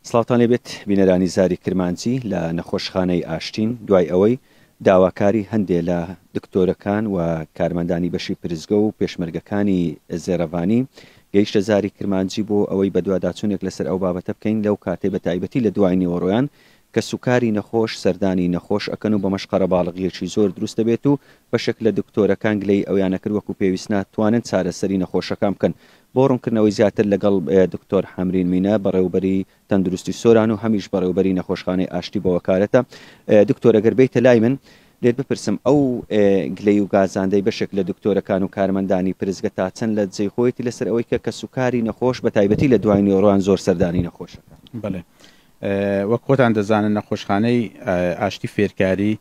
سڵاوتان لێ بێت بینەرانی زاری کرمانجی لە نەخۆشخانەی ئاشتین، دوای ئەوەی داواکاری هەندێ لە دکتۆرەکان و کارمەندانی بەشی پرسگە و پێشمەرگەکانی زێڕەڤانی گەیشتە زاری کرمانجی بۆ ئەوەی بەدواداچونێک لەسەر ئەو بابەتە بکەین لەو کاتەی بەتایبەتی لە دوای نیوەڕۆیان کەسوکاری نەخۆش سەردانی نەخۆش ئەکەن و بەمەش قەرەباڵغیەکی زۆر دروست دەبێت و بەشێک لە دکتۆرەکان گلەیی ئەویانە کرد وەکو پێویست ناتوانن چارەسەری نەخۆشەکان بکەن بۆ ڕونکردنەوەی زیاتر لەگەڵ دکتۆر حەمرین مینە بەڕێوبەری تەندروستی سۆران و هەمیش بەڕێوبەری نەخۆشخانەی ئاشتی بە وەکالەتە دکتۆر ئەگەر بێیتە لای من لێت بپرسم ئەو گلەی و گازاندەی بەشێک لە دکتۆرەکان و کارمەندانی پرسگە تا چەند لە جێی خۆیەتی لەسەر ئەوەی کە کەسوکاری نەخۆش بە تایبەتی لە دوای نیۆڕۆیان زۆر سەردانی نەخۆش ئەکا؟ بەڵێ وەک خۆتان دەزانن نەخۆشخانەی ئاشتی فێرکاری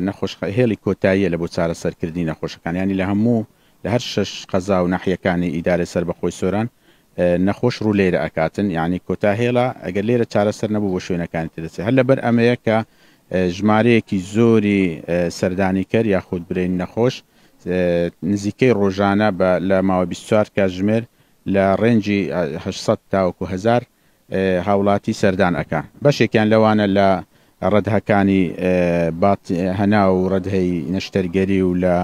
نەخۆش هێڵی کۆتاییە لە بۆ چارەسەرکردنی نەخۆشەکان یانی لە هەموو لە هەر شەش قەزا و ناحیەکانی ئیدارەی سەربەخۆی سۆران نەخۆش ڕوو لێرە ئەکاتن یانی کۆتا هێڵە ئەگەر لێرە چارەسەر نەبوو بۆ شوێنەکانی تر دەچێت هەر لەبەر ئەمەیە کە ژمارەیەکی زۆری سەردانیکەر یاخود برین نەخۆش نزیکەی ڕۆژانە بە لە ماوە 24 کاتژمێر لە ڕێنجی 800 تاوەکو هزار هاوڵاتی سەردان ئەکا بەشێکیان لەوانە لە ڕەدهکانی بات هەنا و ڕەدهی نەشتەرگەری و لە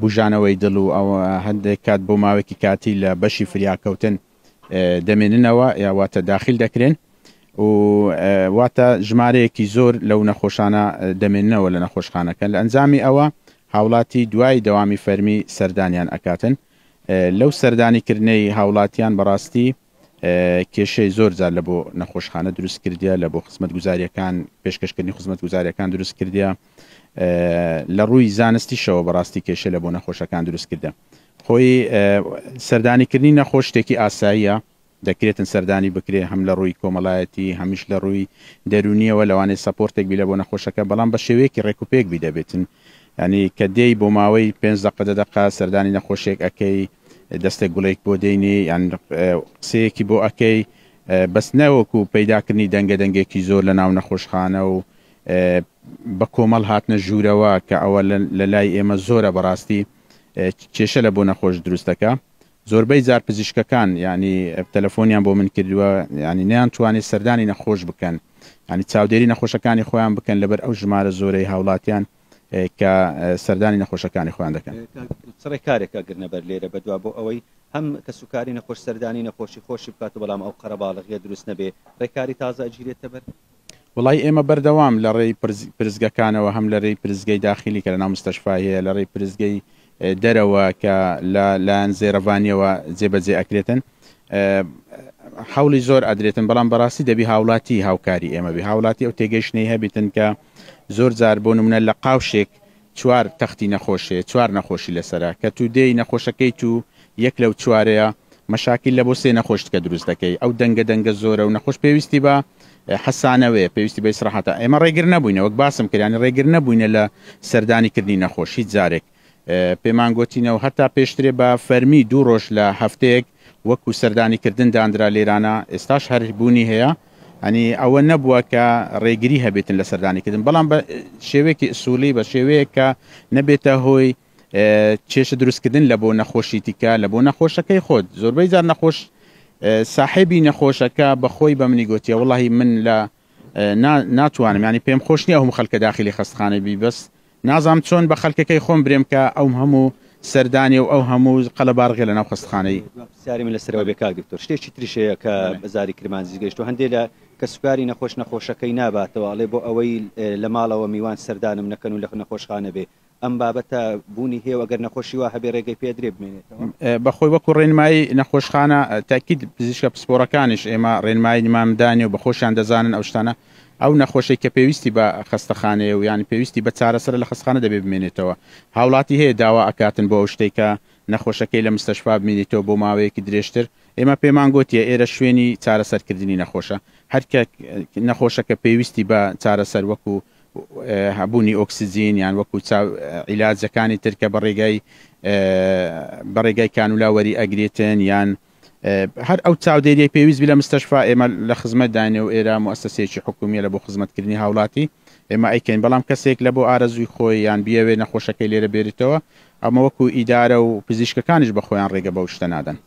بوژانەوەی دڵ و ئەو هەندێک کات بۆ ماوەکی کاتی لە بەشی فریاکەوتن دەمێننەوە یاواتە داخیل دەکرێن و واتە ژمارەیەکی زۆر لەو نەخۆشانە دەمێننەوە لە نەخۆشخانەکە لە ئەنجامی ئەوە هاوڵاتی دوای دەوامی فەرمی سەردانیان ئەکاتن لەو سەردانی کردنەی هاوڵاتیان بەڕاستی کێشەی زۆر جار لە بۆ نەخۆشخانە دروست کردە لە بۆ خزمەت گوزاریەکان پێشکەشکردنی خزمەت گوزاریەکان دروست کردە لە ڕووی زانستیشەوە بەڕاستی کێشە لە بۆ نەخۆشەکان دروست کردە خۆی سەردانیکردنی نەخۆش شتێکی ئاساییە دەکرێتن سەردانی بکرێ هەم لە ڕووی کۆمەڵایەتی هەمیش لە ڕووی دەرونیەوە لەوانەیە سەپۆرتێک بی لە بۆ نەخۆشەکە بەڵام بە شێوەیەکی ڕێکوپێک بی دەبێتن ینی کە دێی بۆ ماوەی پێنج دقە دە دقا سەردانی نەخۆشێک ئەەکەی دەستێک گوڵێک بۆ دێنی یان قسەیەکی بۆ ئەکەی بەس نەوەکو پەیداکردنی دەنگە دەنگێکی زۆر لە ناو نەخۆشخانە و بە کۆمەڵ هاتنە ژوورەوە کە ئەوە لە لای ئێمە زۆرە بەڕاستی کێشە لە بۆ نەخۆش دروستەکە زۆربەی زار پزیشکەکان ینی تەلەفۆنیان بۆ من کردووە ینی نیان توانێت سەردانی نەخۆش بکەن ینی چاودێری نەخۆشەکانی خۆیان بکەن لەبەر ئەو ژمارە زۆرەی هاوڵاتیان کە سەردانی نەخۆشەکانی خۆیان دەکەن. چ ڕێکارێک ئەگرنە بەر لێرە بەدوا بۆ ئەوەی هەم کەسوکاری نەخۆش سەردانی نەخۆشی خۆشی بکات و بەڵام ئەو قەرەباڵغیە دروست نەبێ ڕێکاری تازە ئەگیرێتە بەر؟ وەڵایی ئێمە بەردەوام لە ڕێی پرسگەکانەوە هەم لە رێی پرسگەی داخیلی کە لەناو مستەشفای هەیە لە ڕێی پرسگەی دەرەوە کە لە لایەن زێرەڤانیەوە جێ بە جێ ئەکرێتن حولی زۆر ئەدرێتن بەڵام بەڕاستی دەبی هاوڵاتی هاوکاری ئێمە بێ هاوڵاتی ئەو تێگەیشتنەی هەبیتن کە زۆر جار بۆ نمونە لە قاوشێک چوار تەختی نەخۆشێ چوار نەخۆشی لەسرە کە تو دێی نەخۆشەکەی تو یەک لەو چوارەیە مەشاکیل لە بۆ سێ نەخۆشتکە دروست دەکەی ئەو دەنگە دەنگە زۆرە و نەخۆش پێویستی بە حەسانەوەیە پێویستی بە ئیسراحاتە ئێمە ڕێگر نەبووینە وەک باسم کرد یانی ڕێگر نەبووینە لە سەردانی کردنی نەخۆش هیچ جارێک پێمان گوتینەوە هەتا پێشترێ بە فەرمی دوو ڕۆژ لە هەفتەیەک وەکو سەردانی کردن دانرا لێرانە ئێستاش هەر بوونی هەیە ئەنی ئەوە نەبووە کە ڕێگری هەبێتن لە سەردانیکردن بەڵام بە شێوەیەکی ئسوولی بە شێوەیە کە نەبێتە هۆی کێشە دروست کردن لە بۆ نەخۆشی تیکە لە بۆ نەخۆشەکەی خۆت زۆربەی جار نەخۆش ساحێبی نەخۆشەکە بەخۆی بە منی گوتیە وڵی من لە ناتوانم ینی پێم خۆش نیە هەم خەلکە داخلی خستخانە بی بەس نازام چۆن بە خەلکەکەی خۆم برێم کە ئەوم هەموو سەردانی و ئەو هەموو قەلە بارغێ لە ناو خستخانەی سیاری من لەسەرەوە بێ کاک دکتۆر شتێکی تریشەیە کە بەزاری کرمانجی گەشت و هەندێک لە کە سوکاری نەخۆش نەخۆشەکەی ناباتەوە ئەڵێ بۆ ئەوەی لە ماڵەوە میوان سەردانم نەکەن و لە نەخۆشخانە بێ ئەم بابەتە بوونی هەیە و ئەگەر نەخۆشی وا هەبێ رێگەی پێ درێ بمێنێتەوە؟ بە خۆی وەکو رێنمایی نەخۆشخانە تاکید پزیشکە پسپۆرەکانیش ئێمە رێنماییمان دانێ و بە خۆشیان دەزانن ئەو شتانە ئەو نەخۆشەی کە پێویستی بە خەستەخانەیە و یان پێویستی بە چارەسەرە لە خەستخانە دەبێ بمێنێتەوە هاوڵاتی هەیە داوا ئەکاتن بۆ ئەو شتەی کە نەخۆشەکەی لە مستەشفا بمینیتەوە بۆ ماوەیەکی درێژتر ئێمە پێمان گۆتیە ئێرە شوێنی چارەسەرکردنی نەخۆشە هەر کە نەخۆشەکە پێویستی بە چارەسەر وەکو هەبوونی ئۆکسجین یان وەکو چاو عیلاجەکانی تر کە بە ڕێگای بە ڕێگای کانولا وەری ئەگرێتن یان هەر ئەو چاودێریەی پێویست بی لە مستەشفا ئێمە لە خزمەت داینێ و ئێرە موسسەیەکی حکومیە لە بۆ خزمەتکردنی هاوڵاتی ئێمە ئەیکەین بەڵام کەسێک لە بۆ ئارەزووی خۆی یان بیەوێ نەخۆشەکەی لێرە بێریتەوە ئەمە وەکو ئیدارە و پزیشکەکانیش بە خۆیان ڕێگە بەو شتە نادەن.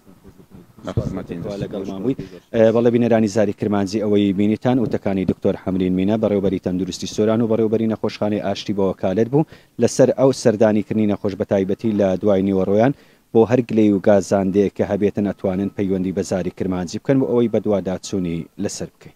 بەڵێ بینەرانی زاری کرمانجی ئەوەی بینیتان وتەکانی دکتۆر حەمرین مینە بەڕێوبەری تەندروستی سۆران و بەڕێوبەری نەخۆشخانەی ئاشتی بەوەکالەت بوو لەسەر ئەو سەردانی کردنی نەخۆش بەتایبەتی لە دوای نیوەڕۆیان بۆ هەر گلەی و گازاندەیەک کە هەبێتن ئەتوانن پەیوەندی بە زاری کرمانجی بکەن بۆ ئەوەی بەدواداچونی لەسەر بکەین.